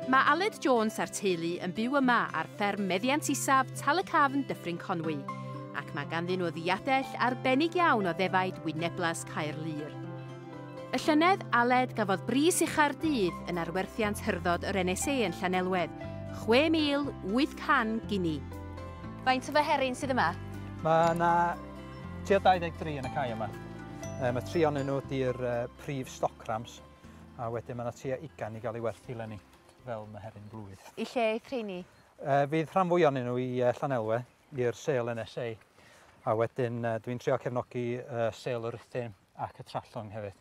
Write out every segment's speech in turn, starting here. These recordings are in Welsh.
Mae Aled Jones a'r teulu yn byw yma ar fferm meddiant isaf Tal-y-cafn Dyffryn Conwy, ac mae ganddyn nhw ddiadell arbennig iawn o ddefaid wyneblas Caerlŷr. Y llynedd, Aled gafodd bris ucha'r dydd yn arwerthiant hyrddod yr NSA yn Llanelwedd, 6,800 gini. Faint o ddoheryn sydd yma? Mae yna tua 23 yn y cae yma. Mae tri onyn nhw 'di'r prif stoc rams, a wedyn mae yna tua ugain i gael ei werthu lenni, fel meheryn blwydd. I lle eith rheini? Uh, fydd rhan fwy o'n nhw i uh, Llanelwe, i'r sel NSA, a wedyn uh, dwi'n trio cefnogi uh, sel yr Rhythyn ac y Trallwng hefyd.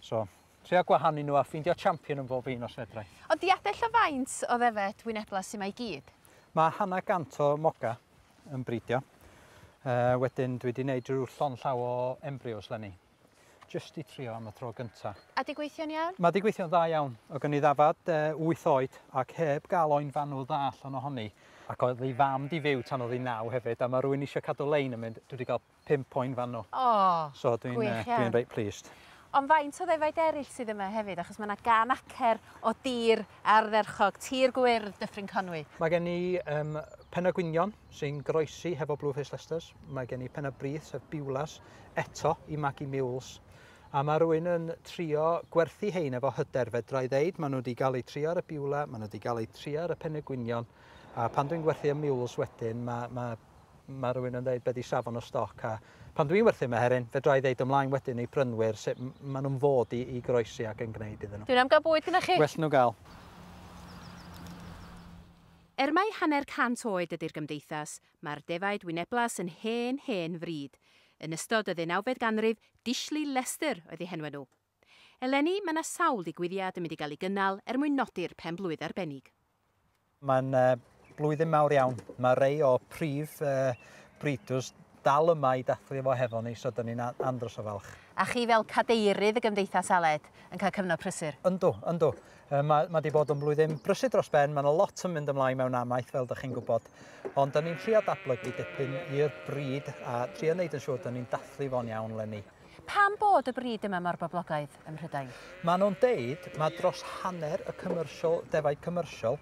So, trio gwahanu nhw a ffeindio champion yn bob un os fedrai. Ond di adell o faint o ddefed wynebla sy'n mae gyd? Mae hanna gant o moga yn bridio. Uh, wedyn dwi wedi gwneud rhyw llon llaw o embryos lenni. Jyst i trio am y tro gynta. A di gweithio'n iawn? Mae di gweithio'n dda iawn. O gen i ddafad e, eh, 8 oed ac heb gael o'n fanwl dda allan ohoni. Ac oedd ei fam di fyw tan oedd hi naw hefyd a mae rwy'n eisiau cadw lein yn mynd, dwi wedi cael 5 o'n fanwl. O, oh, so dwi'n, gwych eh, iawn. Dwi'n reit pleased. Ond faint o ddefaid eraill sydd yma hefyd, achos mae yna gan acer o dir ardderchog, tir gwyrdd Dyffryn Conwy. Mae gen i um, penna gwynion sy'n groesi hefo Blue Face Lesters. Mae gen i penna brith sef Biwlas. eto i magu mules. A mae rwy'n yn trio gwerthu hein efo hyder, fedra i ddeud, maen nhw wedi cael eu trio ar y biwle, maen nhw wedi cael eu trio ar y penegwynion, a pan dwi'n gwerthu y mules wedyn, mae, mae, mae rwy'n yn dweud beth i safon o stoc, a pan dwi'n werthu yma heryn, fedra i ddeud ymlaen wedyn i brynwyr sut maen nhw'n fod i, i groesi ac yn gwneud iddyn nhw. Dwi'n am gael bwyd gyda chi. Well nhw gael. Er mai hanner cant oed ydy'r gymdeithas, Mae'r defaid wyneblas yn hen, hen fryd. Yn ystod y ddeunawfed ganrif, Dishley Lester oedd eu henwa nhw. Eleni, mae 'na sawl digwyddiad yn mynd i gael ei gynnal er mwyn nodi'r pen-blwydd arbennig. Mae'n blwyddyn mawr iawn. Mae rei o prif breeders dal yma i dathlu efo hefo ni, so 'dyn ni'n andros o falch. A chi fel cadeirydd y Gymdeithas Aled yn cael cyfnod prysur? Yndw, yndw. Yy ma' ma' 'di bod yn flwyddyn brysur dros ben, ma' 'na lot yn mynd ymlaen mewn amaeth fel 'dych chi'n gwybod, ond 'dan ni'n trio datblygu dipyn i'r brid a trio neud yn siŵr 'dan ni'n dathlu fo'n iawn 'leni. Pam bod y brid yma mor boblogaidd ym Mhrydain? Ma' nhw'n deud ma' dros hanner y commercial, defaid commercial,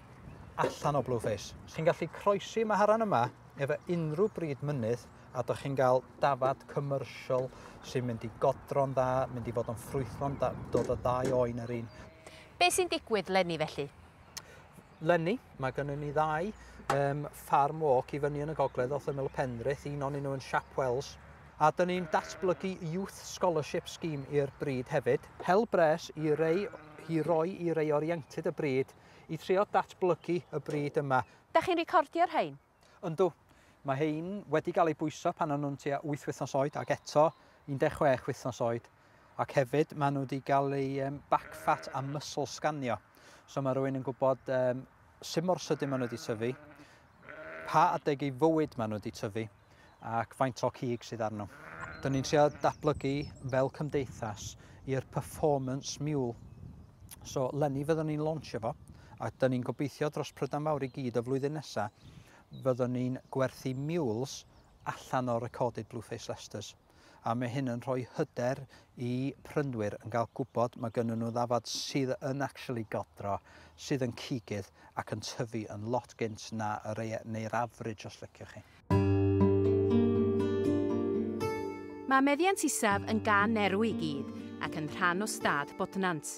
allan o Blueface, sy'n gallu croesi maharan yma efo unrhyw brid mynydd, a dych chi'n cael dafad commercial sy'n mynd i godro'n dda, mynd i fod yn ffrwythlon da, dod o ddau oen yr un. Be sy'n digwydd lenni felly? Lenni, mae gennym ni ddau um, farm walk i fyny yn y gogledd wrth ymyl y Penrith, un o'n nhw yn Siap Wells, a dyn ni'n datblygu Youth Scholarship Scheme i'r bryd hefyd. Hel bres i rei i roi i rei oriented y bryd i trio datblygu y bryd yma. Da chi'n recordio'r rhain? Yndw, mae rhein wedi cael eu bwyso pan o'n nhw'n tua wyth wythnos oed ac eto 16 wythnos oed. Ac hefyd, maen nhw wedi cael eu back fat a muscle scanio. So mae rhywun yn gwybod um, sut mor sydyn maen nhw wedi tyfu, pa adeg ei fywyd maen nhw wedi tyfu, ac faint o cig sydd arno. Dyn ni'n trio datblygu fel cymdeithas i'r performance mule. So, lenni fyddwn ni'n launch fo, a dyn ni'n gobeithio dros Prydain Fawr i gyd y flwyddyn nesaf, fyddwn ni'n gwerthu mules allan o recorded Blueface Leicesters. A mae hyn yn rhoi hyder i prynwyr yn cael gwybod mae gynnu nhw ddafod sydd yn actually godro, sydd yn cigydd ac yn tyfu yn lot gynt na yr, neu'r average os liciwch chi. Mae Meddiant Isaf yn gan erw i gyd ac yn rhan o stad Bodnant.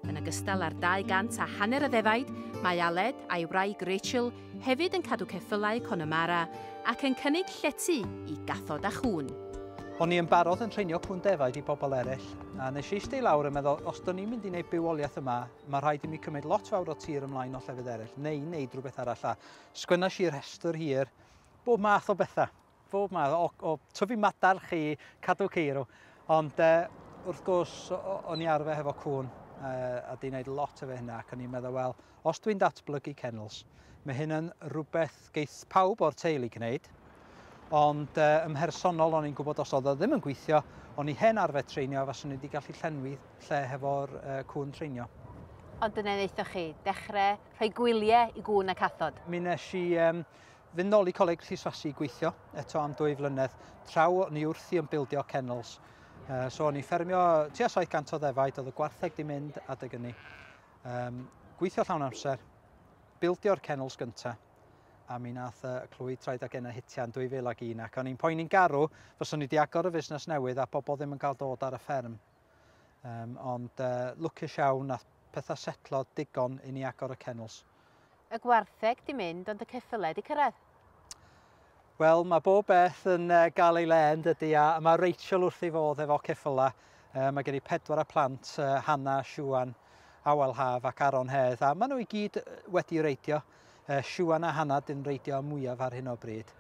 Yn ogystal â'r 200 a hanner o ddefaid, mae Aled a'i wraig Rachel hefyd yn cadw ceffylau Connemara ac yn cynnig llety i gathod a chŵn. O'n i yn barod yn treinio cŵn defaid i bobl eraill, a nes i eistedd i lawr a meddwl, os dwn i'n mynd i wneud bywoliaeth yma, mae rhaid i mi cymryd lot fawr o tir ymlaen o llefydd eraill, neu wneud rhywbeth arall, a Sgwenais i rhestr hir, bob math o bethau, bob math, o, o tyfu madarch i cadw ceirw. Ond e, wrth gwrs, o'n i arfer hefo cwn, e, a di wneud lot efo hynna, ac o'n i'n meddwl, wel, os dwi'n datblygu kennels, mae hyn yn rhywbeth geith pawb o'r teulu gwneud, ond e, ym mhersonol o'n i'n gwybod os oedd o ddim yn gweithio, o'n i hen arfer treinio a faswn i wedi gallu llenwi lle hefo'r e, cwn treinio. Ond dyna wnaethoch chi, dechrau rhoi gwylie i gŵn a cathod. Mi nes i um, fynd nôl i Coleg Rhyswasi i gweithio eto am dwy flynedd, traw ni wrthi yn bildio kennels. Uh, so o'n i ffermio tua 700 o ddefaid, oedd y gwartheg di mynd adeg ynni. Um, gweithio llawn amser, bildio'r kennels gyntaf, a mi nath y clwy traed ag enna hitio yn 2001 ac o'n i'n poeni'n garw fyswn i wedi agor y fusnes newydd a bobl ddim yn cael dod ar y fferm. Um, ond uh, lwcus iawn nath pethau setlo digon i ni agor y kennels. Y gwartheg di mynd ond y ceffyled i cyrraedd? Wel, mae bob beth yn uh, gael ei le yn dydy a mae Rachel wrth ei fodd efo ceffylau. Uh, mae gen i pedwar y plant, uh, Hanna, Siwan, Awel Haf ac Aron Hedd a maen nhw i gyd wedi reidio. uh, Siwan a Hanna dyn reidio mwyaf ar hyn o bryd.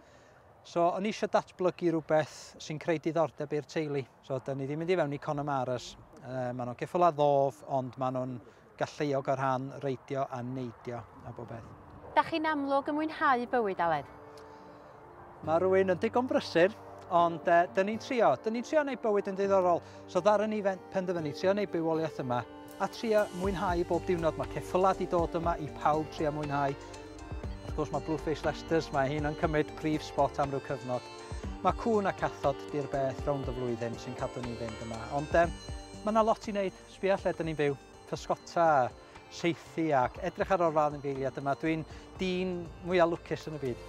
So, o'n eisiau datblygu rhywbeth sy'n creu diddordeb i'r teulu. So, da ni ddim yn mynd i fewn i Conamaras. Uh, maen nhw'n ceffyl a ddof, ond maen nhw'n galluog o rhan reidio a neidio a bob beth. Da chi'n amlwg yn mwynhau bywyd, Aled? Mae rwy'n yn digon brysur, ond uh, dyn ni'n trio. Dyn ni'n trio gwneud bywyd yn ddiddorol. So ddaru ni penderfynu trio gwneud bywoliaeth yma a trio mwynhau bob diwrnod. Mae ceffylau di dod yma i pawb trio mwynhau. Wrth gwrs mae Blueface Lester's, mae hyn yn cymryd prif spot am ryw cyfnod. Mae cwn a cathod di'r beth rownd y flwyddyn sy'n cadw ni'n fynd yma. Ond um, mae yna lot i wneud, sbia lle dyn ni'n byw. pysgota, saethu ac edrych ar olrhain yn geiliad yma. Dwi'n dyn mwyaf lwcus yn y byd.